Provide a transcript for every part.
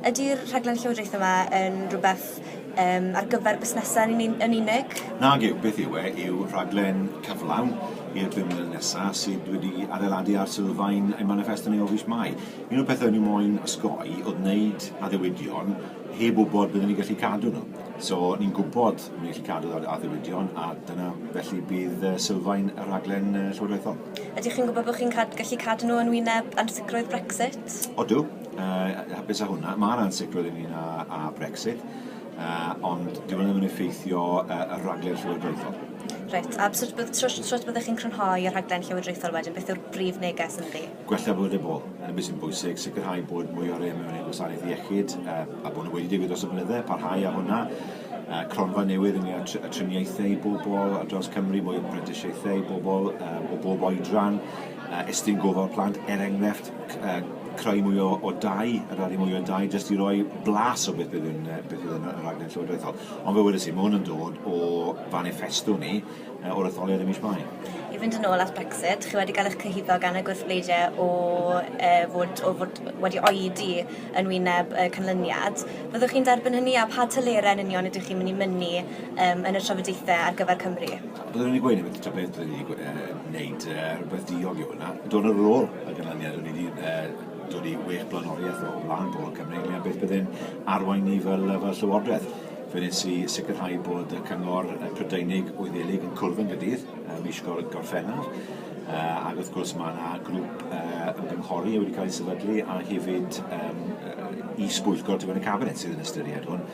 Ydy'r rhaglen Llywodraeth yma yn rhywbeth um, ar gyfer busnesau yn, yn unig? Nag yw, beth yw e, yw rhaglen cyflawn i'r bum mlynedd nesaf sydd wedi adeiladu ar sylfaen ein manifesto ni o fus mai. Un o'r pethau ni moyn osgoi oedd wneud addewidion heb wybod byddwn ni'n gallu cadw nhw. So ni'n gwybod bod ni'n gallu cadw addewidion a dyna felly bydd sylfaen y rhaglen llywodraethol. Ydych chi'n gwybod bod chi'n cad gallu cadw nhw yn wyneb ansicrwydd Brexit? Odw, Uh, hapus â hwnna. Mae yna ansicrwydd ynglyn â, â Brexit, uh, ond dyw hwnna ddim yn effeithio uh, y rhaglen llywodraethol. Reit, a sut bydd, tro, tro byddwch chi'n crynhoi y rhaglen llywodraethol wedyn, beth yw'r brif neges yn ydi? Gwella bod y bol, yn beth sy'n bwysig, sicrhau bod mwy o rei mewn ei gwasanaeth iechyd, uh, a bod nhw wedi digwydd dros y blynydde, parhau â hwnna, uh, cronfa newydd yn â triniaethau i bobl ar draws Cymru, mwy o prentisiaethau i bobl um, o bob oedran, uh, estyn gofal plant, er enghraifft, creu mwy o, o dai, rari mwy o dai, jyst i roi blas o beth bydd yn, beth bydd yn y rhaglen llywodraethol. Ond fe wedi si, mae hwn yn dod o fanifesto ni uh, o'r etholiad ym mis Mai. I fynd yn ôl at Brexit, chi wedi cael eich cyhyddo gan y gwrthbleidiau o, uh, fod, o fod wedi oedi yn wyneb uh, canlyniad. Fyddwch chi'n derbyn hynny a pa tylerau yn union ydych chi'n mynd i mynnu um, yn y trafodaethau ar gyfer Cymru? Byddwn i'n gweud hefyd, ta beth byddwn i'n gweud, uh, wneud uh, rhywbeth diog yw hwnna. Dod ar ôl y ganlyniad, o'n i wedi uh, dod i wech blaenoriaeth o flaen bod Cymru, ynglyn beth byddwn arwain ni fel, fel llywodraeth. Fe nes i sicrhau bod y cyngor Prydeinig Wyddelig yn cwrdd yn gydydd uh, mis gorffennaf, uh, ac wrth gwrs mae yna grŵp uh, ymgynghori wedi cael ei sefydlu a hefyd um, i sbwyllgor tu fewn y cabinet sydd yn ystyried hwn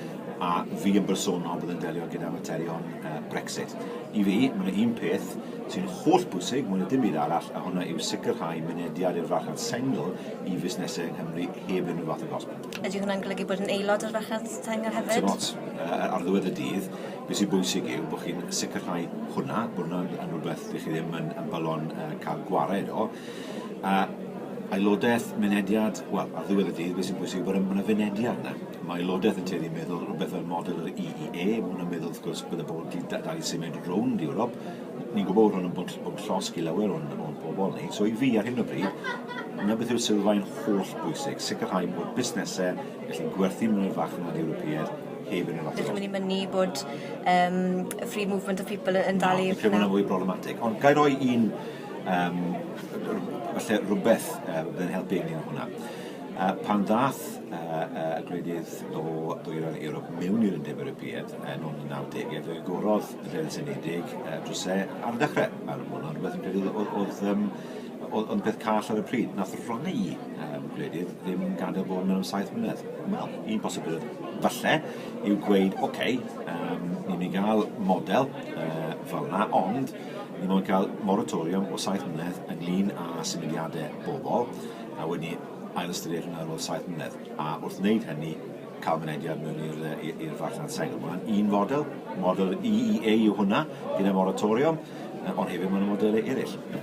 a fi yn bersonol bydd yn delio gyda materion Brexit. I fi, mae yna un peth sy'n holl bwysig mwy na dim byd arall, a hwnna yw sicrhau mynediad i'r farchnad sengl i fusnesau yng Nghymru heb unrhyw fath o gosb. Ydy hwnna'n golygu bod yn aelod o'r farchnad sengl hefyd? Dim ots. Ar ddiwedd y dydd, beth sy'n bwysig yw bod chi'n sicrhau hwnna, bod hwnna'n yn rhywbeth dych chi ddim yn, yn balon uh, cael gwared o. A aelodaeth, mynediad, wel, ar ddiwedd y dydd, beth sy'n bwysig yw bod yna fynediad yna. Mae Llywodraeth y Tir yn meddwl rhywbeth fel model yr EEA. Mae hwnna'n meddwl, wrth gwrs, bydde pobl wedi dal i symud rownd Ewrop. Ni'n gwybod bod hwn yn bod, bod llosg i lawer o'n, o'n pobl ni. So i fi, ar hyn o bryd, yna beth yw'r sylfaen holl bwysig, sicrhau bod busnesau gallu gwerthu mewn i'r farchnad Ewropeaidd heb yn yr athro. Ydych chi'n mynnu bod um, free movement of people yn dal i... Dwi'n meddwl fwy problematic. Ond gael rhoi un, um, falle rhywbeth uh, yn helpu ni yn hwnna. Pan ddaeth y gwledydd o Ddwyrain Ewrop mewn i'r Undeb Ewropeaidd yn ôl yn y nawdegau, fe agorodd y Deddf Unedig drysau ar y dechrau, a roedd hwnna'n rhywbeth fi'n credu oedd oedd yym oedd oedd peth call ar y pryd. Nath rai yym gwledydd ddim gadael bod mewn am saith mlynedd. Wel, un posibiledd falle yw gweud, ocê, yym ni'n mynd i ga'l model yy fel 'na, ond ni mo'n ca'l moratoriwm o saith mlynedd ynglŷn â symudiade bobol, a wedi ailystyried hwnna ar ôl saith mlynedd, a wrth wneud hynny, cael mynediad mewn i'r farchnad sengl. Mae hwnna'n un fodel, model EEA yw hwnna, gyda moratoriwm, ond hefyd mae yna modelau eraill.